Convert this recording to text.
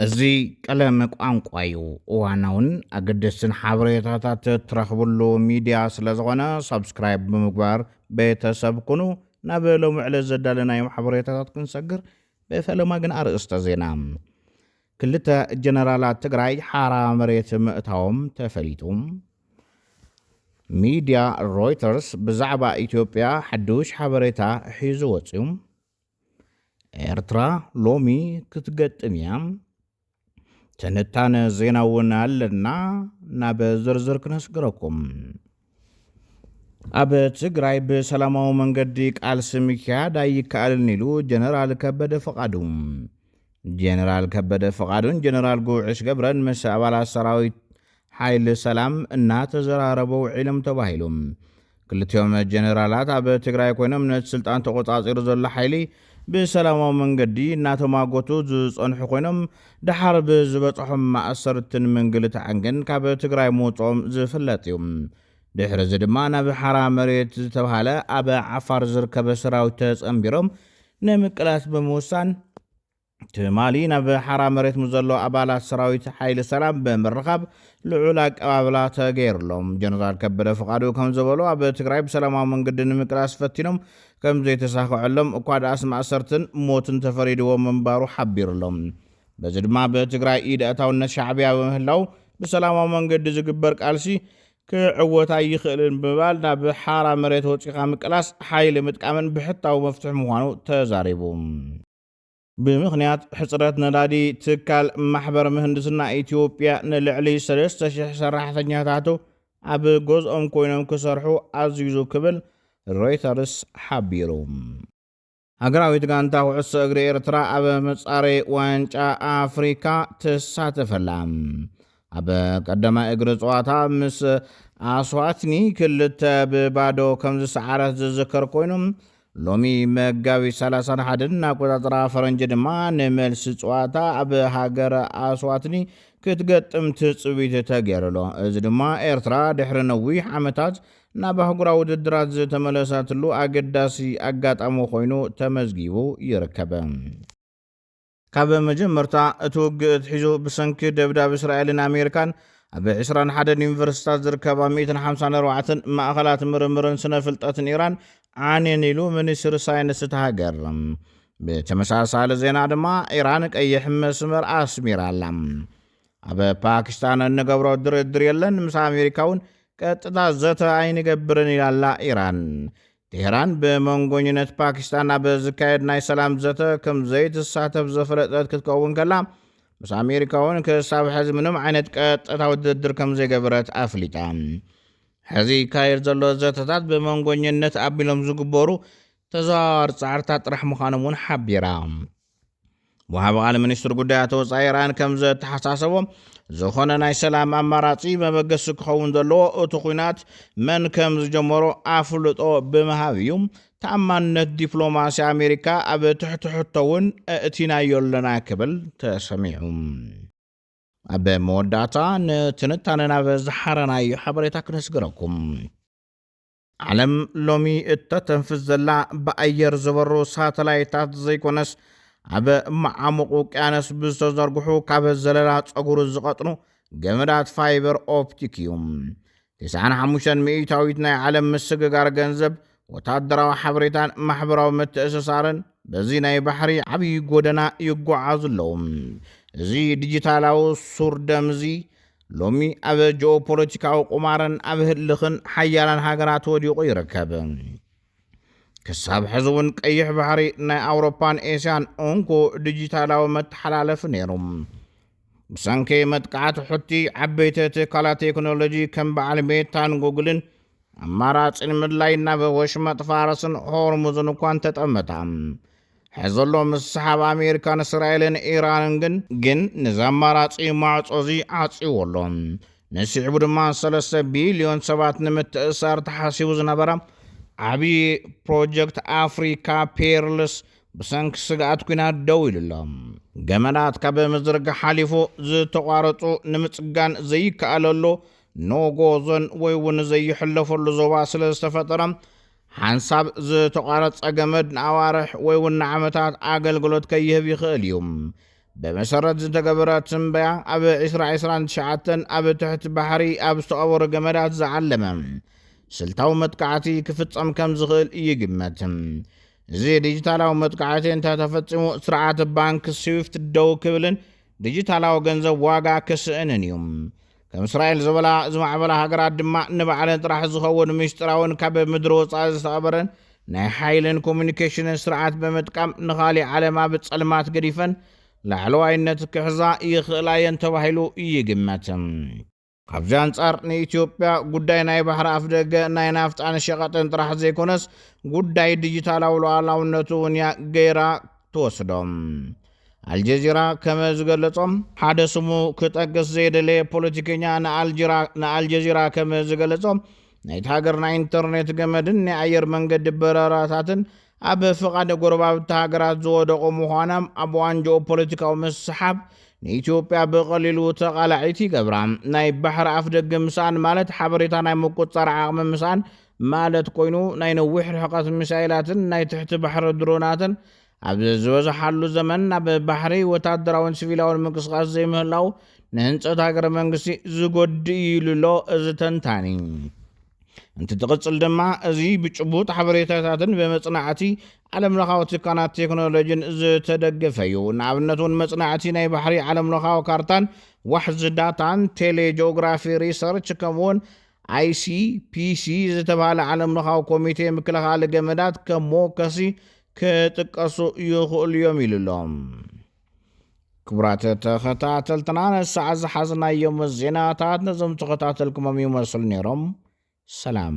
እዚ ቀለም ቋንቋ እዩ። እዋናውን ኣገደስትን ሓበሬታታት ትረኽብሉ ሚድያ ስለዝኾነ ሳብስክራይብ ብምግባር ቤተሰብ ኩኑ። ናብ ሎሚ ዕለት ዘዳለናዮም ሓበሬታታት ክንሰግር ብፈለማ ግን ኣርእስተ ዜና ክልተ ጀነራላት ትግራይ ሓራ መሬት ምእታዎም ተፈሊጡ። ሚድያ ሮይተርስ ብዛዕባ ኢትዮጵያ ሓዱሽ ሓበሬታ ሒዙ ወፅዩ። ኤርትራ ሎሚ ክትገጥም እያ ትንታነ ዜና እውን ኣለና ናብ ዝርዝር ክነስግረኩም ኣብ ትግራይ ብሰላማዊ መንገዲ ቃልሲ ምክያድ ኣይከኣልን ኢሉ ጀነራል ከበደ ፈቓዱ። ጀነራል ከበደ ፈቓዱን ጀነራል ጉዕሽ ገብረን ምስ ኣባላት ሰራዊት ሓይሊ ሰላም እናተዘራረቡ ውዒሎም ተባሂሉ። ክልቲኦም ጀነራላት ኣብ ትግራይ ኮይኖም ነቲ ስልጣን ተቖፃፂሩ ዘሎ ሓይሊ ብሰላማዊ መንገዲ እናተማጎቱ ዝፀንሑ ኮይኖም ደሓር ብዝበፀሖም ማእሰርትን ምንግልታዕን ግን ካብ ትግራይ ምውፅኦም ዝፍለጥ እዩ። ድሕሪ እዚ ድማ ናብ ሓራ መሬት ዝተብሃለ ኣብ ዓፋር ዝርከበ ሰራዊት ተፀምቢሮም ንምቅላስ ብምውሳን ትማሊ ናብ ሓራ መሬት ምስ ዘሎ ኣባላት ሰራዊት ሓይሊ ሰላም ብምርኻብ ልዑል ኣቀባብላ ተገይርሎም። ጀነራል ከበደ ፍቓዱ ከም ዝበሎ ኣብ ትግራይ ብሰላማዊ መንገዲ ንምቅላስ ፈቲኖም ከም ዘይተሳኸዐሎም እኳ ደኣስ ማእሰርትን ሞትን ተፈሪድዎም ምንባሩ ሓቢሩሎም። በዚ ድማ ኣብ ትግራይ ኢድ ኣእታውነት ሻዕቢያ ብምህላው ብሰላማዊ መንገዲ ዝግበር ቃልሲ ክዕወት ኣይኽእልን ብምባል ናብ ሓራ መሬት ወፂኻ ምቅላስ ሓይሊ ምጥቃምን ብሕታዊ መፍትሒ ምዃኑ ተዛሪቡ። ብምኽንያት ሕፅረት ነዳዲ ትካል ማሕበር ምህንድስና ኢትዮጵያ ንልዕሊ ሰለስተ ሽሕ ሰራሕተኛታቱ ኣብ ገዝኦም ኮይኖም ክሰርሑ ኣዚዙ ክብል ሮይተርስ ሓቢሩ። ሃገራዊት ጋንታ ኩዕሶ እግሪ ኤርትራ ኣብ መጻረዪ ዋንጫ ኣፍሪካ ትሳተፍ ኣላ። ኣብ ቀዳማይ እግሪ ጸዋታ ምስ ኣስዋትኒ ክልተ ብባዶ ከም ዝሰዓረት ዝዝከር ኮይኑ ሎሚ መጋቢት 31 ኣቆጻጽራ ፈረንጂ ድማ ንመልሲ ጸዋታ ኣብ ሃገረ ኣስዋትኒ ክትገጥም ትጽቢት ተገይሩሎ እዚ ድማ ኤርትራ ድሕሪ ነዊሕ ዓመታት ናብ ኣህጉራዊ ውድድራት ዝተመለሰትሉ ኣገዳሲ ኣጋጣሚ ኮይኑ ተመዝጊቡ ይርከብ። ካብ መጀመርታ እቲ ውግእ ኣትሒዙ ብሰንኪ ደብዳብ እስራኤልን ኣሜሪካን ኣብ ዕስራን ሓደን ዩኒቨርሲታት ዝርከባ ሚእትን ሓምሳን ኣርባዕተን ማእኸላት ምርምርን ስነ ፍልጠትን ኢራን ዓንየን ኢሉ ሚኒስትሪ ሳይንስ እታ ሃገር። ብተመሳሳሊ ዜና ድማ ኢራን ቀይሕ መስመር ኣስሚራ ኣላ። ኣብ ፓኪስታን እንገብሮ ድርድር የለን፣ ምስ ኣሜሪካ እውን ቀጥታ ዘተ ኣይንገብርን ኢላ ኣላ ኢራን። ቴህራን ብመንጎኝነት ፓኪስታን ኣብ ዝካየድ ናይ ሰላም ዘተ ከም ዘይትሳተፍ ዘፈለጠት ክትከውን ከላ ምስ ኣሜሪካ እውን ክሳብ ሕዚ ምንም ዓይነት ቀጥታዊ ድርድር ከም ዘይገበረት ኣፍሊጣ። ሕዚ ይካየድ ዘሎ ዘተታት ብመንጎኝነት ኣቢሎም ዝግበሩ ተዘዋዋሪ ጻዕርታት ጥራሕ ምዃኖም እውን ሓቢራ። ወሃቢ ቃል ሚኒስትር ጉዳያት ወፃኢ ኢራን ከምዘተሓሳሰቦ፣ ዝኾነ ናይ ሰላም ኣማራፂ መበገሲ ክኸውን ዘለዎ እቲ ኹናት መን ከምዝጀመሮ ኣፍልጦ ብምሃብ እዩ፣ ተኣማንነት ዲፕሎማሲ ኣሜሪካ ኣብ ትሕቲ ሕቶ እውን ኣእቲናዮ ኣለና ክብል ተሰሚዑ። ኣብ መወዳእታ ንትንታነ ናብ ዝሓረናዮ ሓበሬታ ክነስግረኩም። ዓለም ሎሚ እተተንፍስ ዘላ ብኣየር ዝበሩ ሳተላይታት ዘይኮነስ ኣብ መዓሙቕ ውቅያኖስ ብዝተዘርግሑ ካብ ዘለላ ጸጉሪ ዝቐጥኑ ገመዳት ፋይበር ኦፕቲክ እዩ። ትስዓን ሓሙሽተን ሚእታዊት ናይ ዓለም ምስግጋር ገንዘብ፣ ወታደራዊ ሓበሬታን ማሕበራዊ ምትእስሳርን በዚ ናይ ባሕሪ ዓብዪ ጎደና ይጓዓዙ ኣለዉ። እዚ ዲጂታላዊ ሱር ደም እዚ ሎሚ ኣብ ጂኦፖለቲካዊ ቁማርን ኣብ ህልኽን ሓያላን ሃገራት ወዲቑ ይርከብ። ክሳብ ሕዚ እውን ቀይሕ ባሕሪ ናይ ኣውሮፓን ኤስያን እንኮ ዲጂታላዊ መተሓላለፊ ነይሩ። ብሰንኪ መጥቃዕቲ ሑቲ ዓበይቲ ትካላት ቴክኖሎጂ ከም በዓል ሜታን ጉግልን ኣማራጺ ንምድላይ ናብ ወሽመጥ ፋርስን ሆርሙዝን እኳ እንተጠመታ ሕዘሎ ምስሓብ ኣሜሪካን እስራኤልን ኢራንን ግን ግን ነዚ ኣማራጺ ማዕጾ እዚ ዓጽዎ ኣሎ ንስዕቡ ድማ ሰለስተ ቢልዮን ሰባት ንምትእሳር ተሓሲቡ ዝነበረ ዓብዪ ፕሮጀክት ኣፍሪካ ፔርልስ ብሰንኪ ስግኣት ኩናት ደው ኢሉ ኣሎ። ገመዳት ካብ ምዝርጋ ሓሊፉ ዝተቋረጹ ንምጽጋን ዘይከኣለሉ ኖጎ ዞን ወይ እውን ዘይሕለፈሉ ዞባ ስለ ዝተፈጠረ ሓንሳብ ዝተቋረፀ ገመድ ንኣዋርሕ ወይ እውን ንዓመታት ኣገልግሎት ከይህብ ይኽእል እዩ። ብመሰረት ዝተገበረ ትንበያ ኣብ ዒስራ ዒስራን ትሽዓተን ኣብ ትሕቲ ባሕሪ ኣብ ዝተቐበሩ ገመዳት ዝዓለመ ስልታዊ መጥቃዕቲ ክፍፀም ከም ዝኽእል ይግመት። እዚ ዲጂታላዊ መጥቃዕቲ እንተተፈፂሙ ስርዓት ባንክ ስዊፍት ደው ክብልን ዲጂታላዊ ገንዘብ ዋጋ ክስእንን እዩ። ከም እስራኤል ዝበላ ዝማዕበላ ሃገራት ድማ ንባዕለን ጥራሕ ዝኸውን ምስጢራውን ካብ ምድሪ ወፃኢ ዝተቐበረን ናይ ሓይልን ኮሚኒኬሽንን ስርዓት ብምጥቃም ንኻሊእ ዓለም ኣብ ጸልማት ገዲፈን ላዕለዋይነት ክሕዛ ይኽእላ እየን ተባሂሉ ይግመት። ካብዚ ኣንጻር ንኢትዮጵያ ጉዳይ ናይ ባሕሪ ኣፍደገ ናይ ናፍጣን ሸቐጥን ጥራሕ ዘይኮነስ ጉዳይ ዲጂታላዊ ሉዓላውነቱ እውን እያ ገይራ ትወስዶ። ኣልጀዚራ ከመ ዝገለጾ፣ ሓደ ስሙ ክጠቅስ ዘይደለየ ፖለቲከኛ ንኣልጅራ ንኣልጀዚራ ከመ ዝገለጾ፣ ናይታ ሃገር ናይ ኢንተርኔት ገመድን ናይ ኣየር መንገዲ በረራታትን ኣብ ፍቓድ ጎረባብቲ ሃገራት ዝወደቑ ምዃናም ኣብ እዋን ጂኦፖለቲካዊ ምስሓብ ንኢትዮጵያ ብቐሊሉ ተቓላዒት ይገብራ። ናይ ባሕሪ ኣፍደገ ምስኣን ማለት ሓበሬታ ናይ ምቁጽጻር ዓቕሚ ምስኣን ማለት ኮይኑ፣ ናይ ነዊሕ ርሕቐት ሚሳይላትን ናይ ትሕቲ ባሕሪ ድሮናትን ኣብ ዝበዝሓሉ ዘመን ናብ ባሕሪ ወታደራውን ሲቪላውን ምንቅስቓስ ዘይምህላው ንህንፀት ሃገረ መንግስቲ ዝጎድእ እዩ ኢሉ ኣሎ እዚ ተንታኒ። እንትትቕፅል ድማ እዚ ብጭቡጥ ሓበሬታታትን ብመፅናዕቲ ዓለምለኻዊ ትካላት ቴክኖሎጂን ዝተደገፈ እዩ። ንኣብነት እውን መፅናዕቲ ናይ ባሕሪ ዓለምለኻዊ ካርታን ዋሕዚ ዳታን፣ ቴሌጂኦግራፊ ሪሰርች፣ ከምኡ እውን ICPC ዝተባህለ ዓለምለኻዊ ኮሚቴ ምክልኻል ገመዳት ከሞከሲ ክጥቀሱ ይኽእሉ እዮም ኢሉ ኣሎ። ክቡራት ተኸታተልትና ንሰዓ ዝሓዝናዮም ዜናታት ነዞም ተኸታተልኩሞም ይመስሉ ነይሮም። ሰላም።